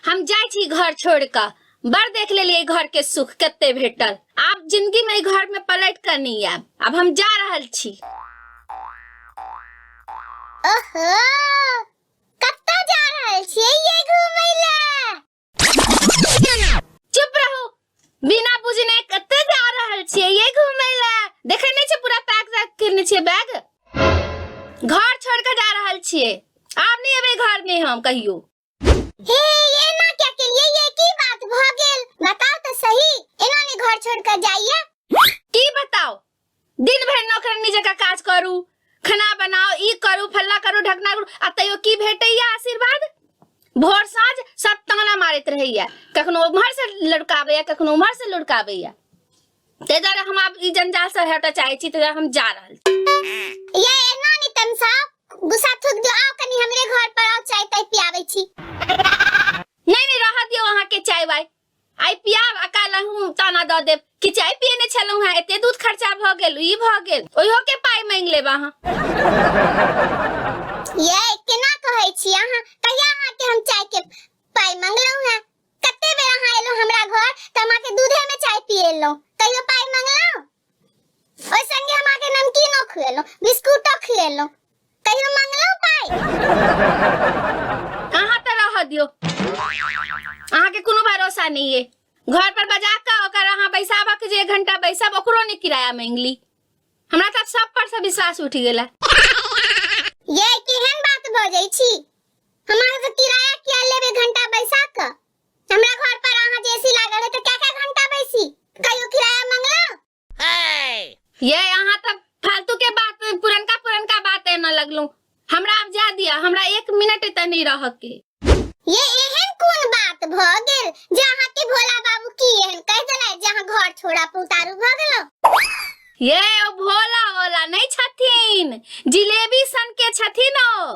हम जाइ छी घर छोड़ कऽ बड़ देख लेलियै घर के सुख कते भेटल आब जिंदगी में घर में पलट कर नहीं आब अब हम जा रहल छी ओहो कतऽ जा रहल छियै ये घूमय लए चुप रहू बिना बुझने कते जा रहल छियै ये घूमे ला देखे नहीं छै पूरा पैक पैक करने छियै बैग घर छोड़ के जा रहल छियै आब नहीं अबे घर में हम कहियो हे ये ना क्या के लिए ये की बात भ गेल बताओ तो सही एना ने घर छोड़ के जाइए की बताओ दिन भरि नौकरनी जकाँ काज करू खाना बनाउ ई करू फल्ला करू ढकना करू आ तैयो की भेटैया आशीर्वाद भोर साँझ सब ताना मारैत रहैया कखनो उम्हर से लुड़काबैया कखनो उम्हर से लुड़काबैया ताहि दुआरे हम आब ई जंजाल से हटय चाहै छी ताहि दुआरे हम जा रहल छी। ये एना नि तन सा गुस्सा थूक दियो आओ कनी हमरे घर पर आओ चाय ताय पियाबै छी नहीं नहीं रह दियो अहाँ के चाय वाय आइ पियाब आ काल्हि अहूँ ताना दऽ देब कि चाय पियने छलहुँ हेँ एते दूध खर्चा भऽ गेल ई भऽ गेल ओहियो के पाइ मांगि लेब अहाँ ये केना कहै छी अहाँ कहिया अहाँ के हम चाय के पाइ मंगलहुं हैं कते बेर अहाँ एलहुं हमरा घर त अहाँ के दूधे में चाय पिएलहुं कहियो पाइ मंगलहुं ओहि संगे हम अहाँके नमकीनो खुएलहुँ बिस्कुटो खुएलहुँ कहियो मंगलहुँ पाइ अहाँ तऽ रह दियौ अहाँके कोनो भरोसा नहि ये घर पर बजा कऽ ओकर अहाँ बैसाबक जे एक घंटा बैसब ओकरो नहि किराया मांगली हमरा तऽ सब पर से विश्वास उठि गेला ये केहन बात भऽ जाइ छी हमरा से किराया किया लेब एक घंटा बैसा कऽ हमरा घर पर अहाँ जे एसी लागल है तो क्या क्या घंटा बैसी कहियो किराया मंगला ये यहाँ तक फालतू के बात पुरनका पुरनका बात है ना लगलू हमरा अब जा दिया हमरा एक मिनट एते नहीं रह के ये एहन कोन बात भ गेल जे अहाँ के भोला बाबू की एहन कह देला जे अहाँ घर छोड़ा पुतारू भ गेलो ये ओ भोला भोला नहीं छथिन जिलेबी सन के छथिन ओ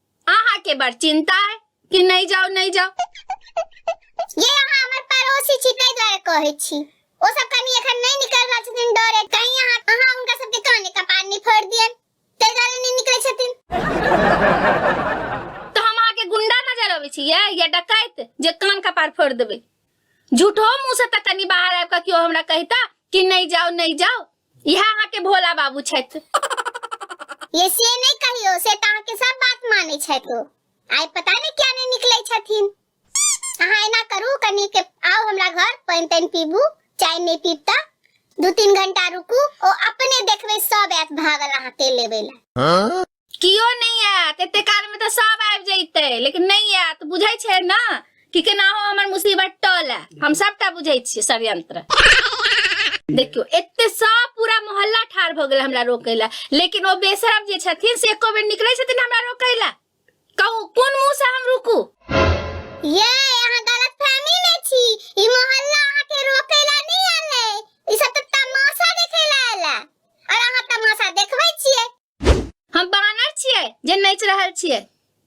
अहा के बड़ चिंता है कि नहीं जाओ नहीं जाओ ये यहाँ हमर पड़ोसी छी ताहि द्वारे कहै छी ओ सब कनी एखन नहीं निकल रहल छथिन डरे कहीं यहाँ अहाँ हुनका सबके काने कपार नहीं फोड़ दियन ताहि द्वारे नहीं निकले छथिन तो हम अहा के गुंडा नजर अबै छी या या डकैत जे कान कपार फोड़ देबे झूठो मुंह से त कनी बाहर आबि के केओ हमरा कहता कि नहीं जाओ नहीं जाओ इहे अहाँ के भोला बाबू छथि ये से नहीं कहियो से तो अहाँके सब बात माने छै तो आइ पता नहीं क्या नहीं निकले छथिन अहाँ एना करू कनी के आओ हमरा घर पानि तानि पीबू चाय नहीं पीब त दू तीन घंटा रुकू ओ अपने देखबे सब आयत भागल अहाँ तेल लेबे ला कियो नहि आयत एते कालमे तऽ सब आबि जैते लेकिन नहि आयत बुझै छै ने कि केनाहो हमर मुसीबत टल है हम सबटा बुझै छियै षड्यंत्र देखियो एते सब पूरा मोहल्ला ठार भऽ गेल हमरा रोकै लए लेकिन ओ बेसरम जे छथिन से एको बेर निकलै छथिन हमरा रोकै लए कहू कोन मुंह से हम रुकू ये अहाँ गलत फहमी में छी ई मोहल्ला अहाँ के रोके ला नहीं आले ई सब तो तमाशा देखे ला आला और अहाँ तमाशा देखबै छियै हम बानर छियै जे नाचि रहल छियै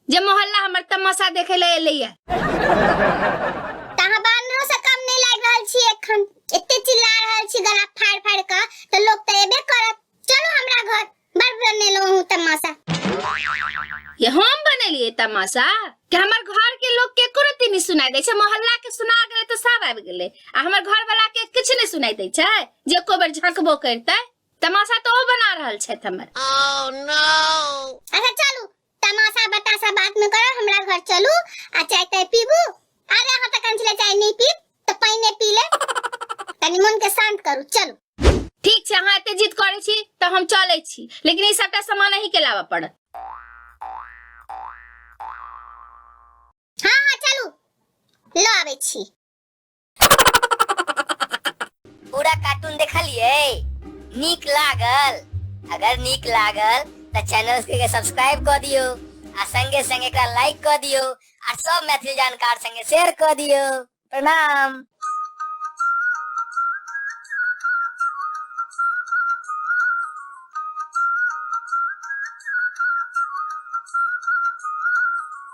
जे मोहल्ला हमर तमाशा देखे ले एले ये तऽ अहाँ बानरो से कम नहि लागि रहल छी एखन एते चिल्ला रहल छी गला फाड़ फाड़ कऽ तऽ लोक तऽ एबे करत चलू हमरा घर बड़ बनेलहुँ हूँ तमाशा ये हम बनेलिए तमाशा कि हमर घर के लोग के कोनो तीनी सुनाई दै छै मोहल्ला के सुना गेलै तऽ सब आबि गेलै आ हमर घर वाला के किछु नहि सुनाई दै छै जे एको बेर झंकबो करतै तमाशा तो ओ बना रहल छथि हमर अच्छा चलू तमाशा बताशा बात न करब हमरा घर चलू आ चाय ताय पीबू अरे अहाँ तक छलै चाय नहीं पीब तऽ पानिए पी ले कनि मन के शांत करू चलू ठीक छै अहाँ एते जिद करै छी तऽ हम चलै छी लेकिन ई सबटा सामान अहीं के लाबऽ पड़त हाँ हाँ चलू लऽ आबै छी पूरा कार्टून देखलिए नीक लागल अगर नीक लागल तो चैनल के सब्सक्राइब कर दियो आ संगे संगे का लाइक कर दियो आ सब मैथिली जानकार संगे शेयर कर दियो प्रणाम